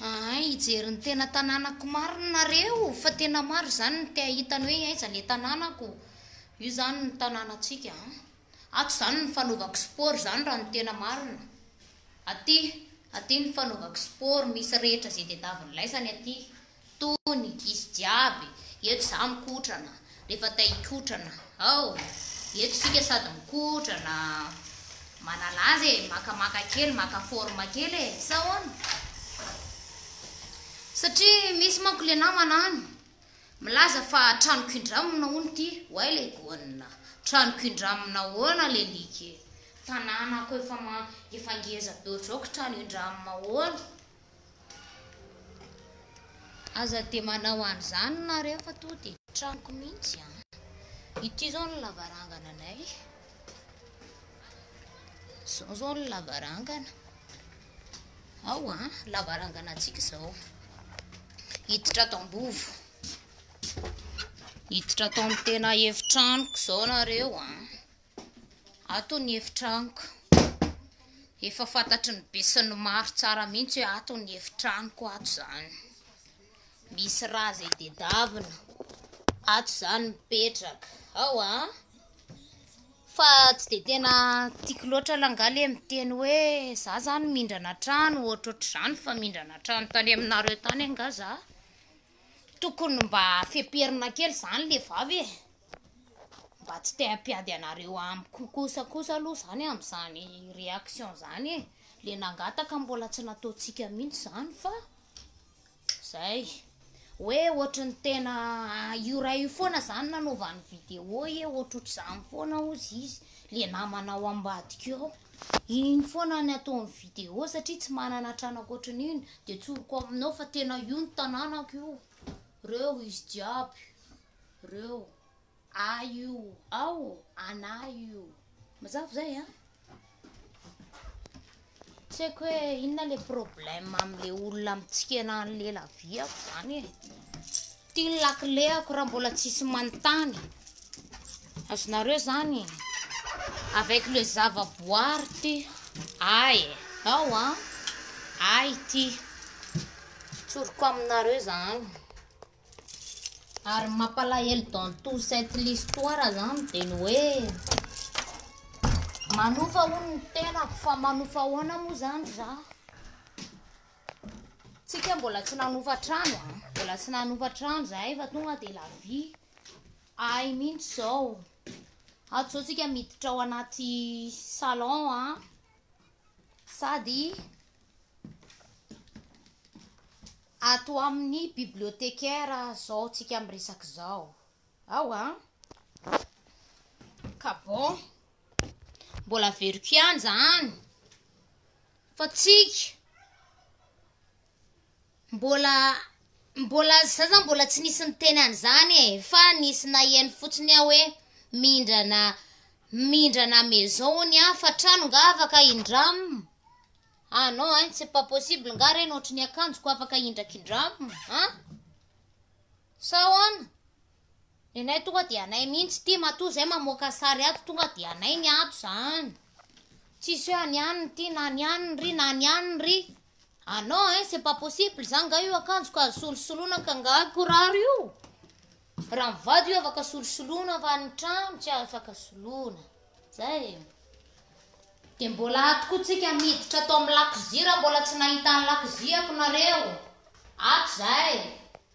Ahay hijery ny tena tanànako marina nareo fa tena maro izany ny te hahita ny hoe aiza le tanànako. Io zany ny tanànantsika a. Ato zany ny fanaovako sport zany raha ny tena marina. Aty, aty ny fanaovako sport misy rehetra izay tadiavin'ny laisany aty. Tony, izy jiaby, eto za mikotrana, refa ta hikotrana ao, eto sika sady mikotrana, manalaza e, makamaka kely, maka forme kely e, sa ahoana? Satria misy manko le namana any, milaza fa tranoko indramina hono ty, oay le gonna, tranoko indramina ahoana le like, tananako efa efa ngeza be otrao ko trano indramina ahoana? Aza dia manao an'izany nareo fa toa dia tranoko mihitsy an! Ity izao ny lavarangananay. Izao izao ny lavarangana. Ao an, lavarangana antsika izao. Hiditra ato am-bovo. Hiditra ato amin'ny tena efitranoko izao nareo an. Ato ny efitranoko. Efa fantatry ny be sy ny maro tsara mihitsy hoe ato ny efitranoko ato izany. Misy rà izay tedavina. Ato izany mipetraka. Ao a. Ah. Fa tsy dia tena tiako loatra langaha ilay miteny hoe za izany mindrana trano ohatrohatr'izany fa mindrana trano tany aminareo tany angaha za. Tokony mba feperina kely zany le vavy e! mba tsy te hampiady anareo amiko kosa kosa aloha zany amin'izany réaction zany e! le nangataka mbola tsy nataontsika mihitsy zany fa zay, hoe ohatry ny tena io ray io foana zany nanaovany vidéo e! ohatrohatr'izany foana hozy izy le namanao ambadika ao. Iny foana ny ataony vidéo satria tsy manana trano ankoatran'iny de tsoriko aminao fa tena io ny tananako io reo izy jiaby reo ahy io ao ô anah io mazava zay an tsy haiko hoe inona le problème amle olona mitsikena anle laviako zany e Ty ny lakileako raha mbola tsisy manontany. Azonareo zany e. Avec le zavaboary ty. Ay e. Ao an. Ay ty. Tsoriko aminareo zany. Ary mampalahelo dans tout cette l'histoire zany dia ny hoe manofa hono ny tenako fa manofa ahoana moa zany za? Tsika mbola tsy nanova trano a. Ah. Mbola tsy nanova trano zahay fa tonga dia la vie ahy mihitsy zao. Ato zao tsika miditra ao anaty salon a. Ah. Sady ato amin'ny bibliotecaire zao tsika miresaka izao. Ao a. Ah. Ka bon. Mbola veriko ihany zany. Fa tsika mbola mbola za zany mbola tsy nisy niteny an'izany e, fa nisy naheno fotsiny aho hoe mindrana mindrana maison hono aho fa trano nga afaka indramo? ah non ein, c'est pas possible nga reny ohatry ny akanjoko afaka indrakindramina an? sao ahoana? Nenay tonga dia anay mihintsy ty matoa zay mamoaka sary ato tonga dia anay ny ato zany tsisy hoe any aniny ty na any aniny ry na any aniny ry ah non hein c'est pas possible zany nga io akanjo ka azo solosoloana ka nga kiraro io raha mivady io afaka solosoloana fa ny trano tsy afaka soloana zay e dia mbola ato koa tsika miditra ato amin'ny lakozia raha mbola tsy nahita ny lakoziako nareo ato zay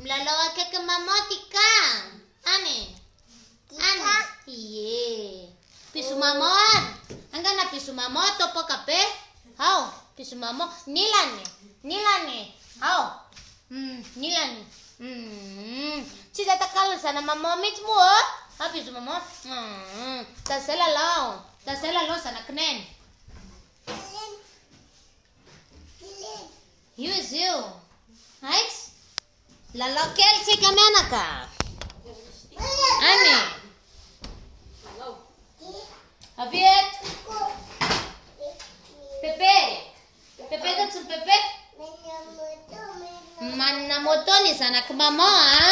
Milalao akaiky maman ty ka. Any. Any. Iye. Bisous maman any. Angana bisous maman atao poka be. Hao. Bisous maman. Nilany. Nilany. Hao. Mm, nilany. Mm. Tsy izay takalo zana maman mihitsy moa. Oh. Ah, bisous maman. Mm. Da zay lalao. Da zay lalao zanakineny. Io izy io. Aiz? Lalao kely tsika mianaka. Any. Avy eto. Pepe. Pepe ta tsy pepe. Manana moto ny zanak'i maman a.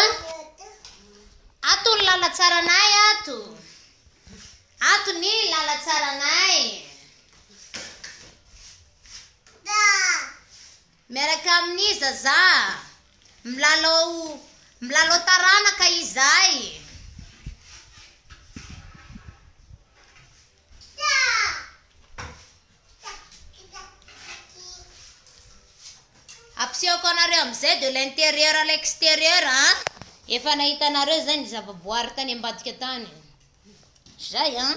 Ato ny lalatsaranay ato. Ato ny lalatsaranay. Miaraka amin'ny zazà, milalao milalao taranaka izahay. Ampisehoako anareo amin'izay de l'intérieur à l'extérieur an! Efa nahitanareo izay ny zavaboary tany ambadika tany. Izay an!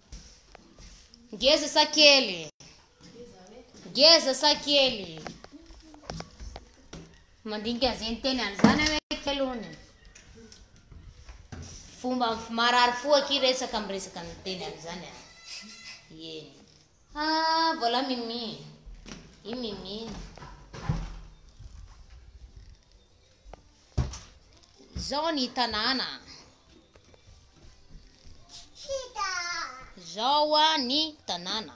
Ngeza sa kely? Ngeza sa kely? Mandinika an'izay niteny an'izany aho hoe kely hono. Fomba marary fo aky resaka amin'ny resaka niteny an'izany aho. Yeny. Ah, voilà Mimi. I Mimi. Izao ny tanàna. Izao ny tanàna.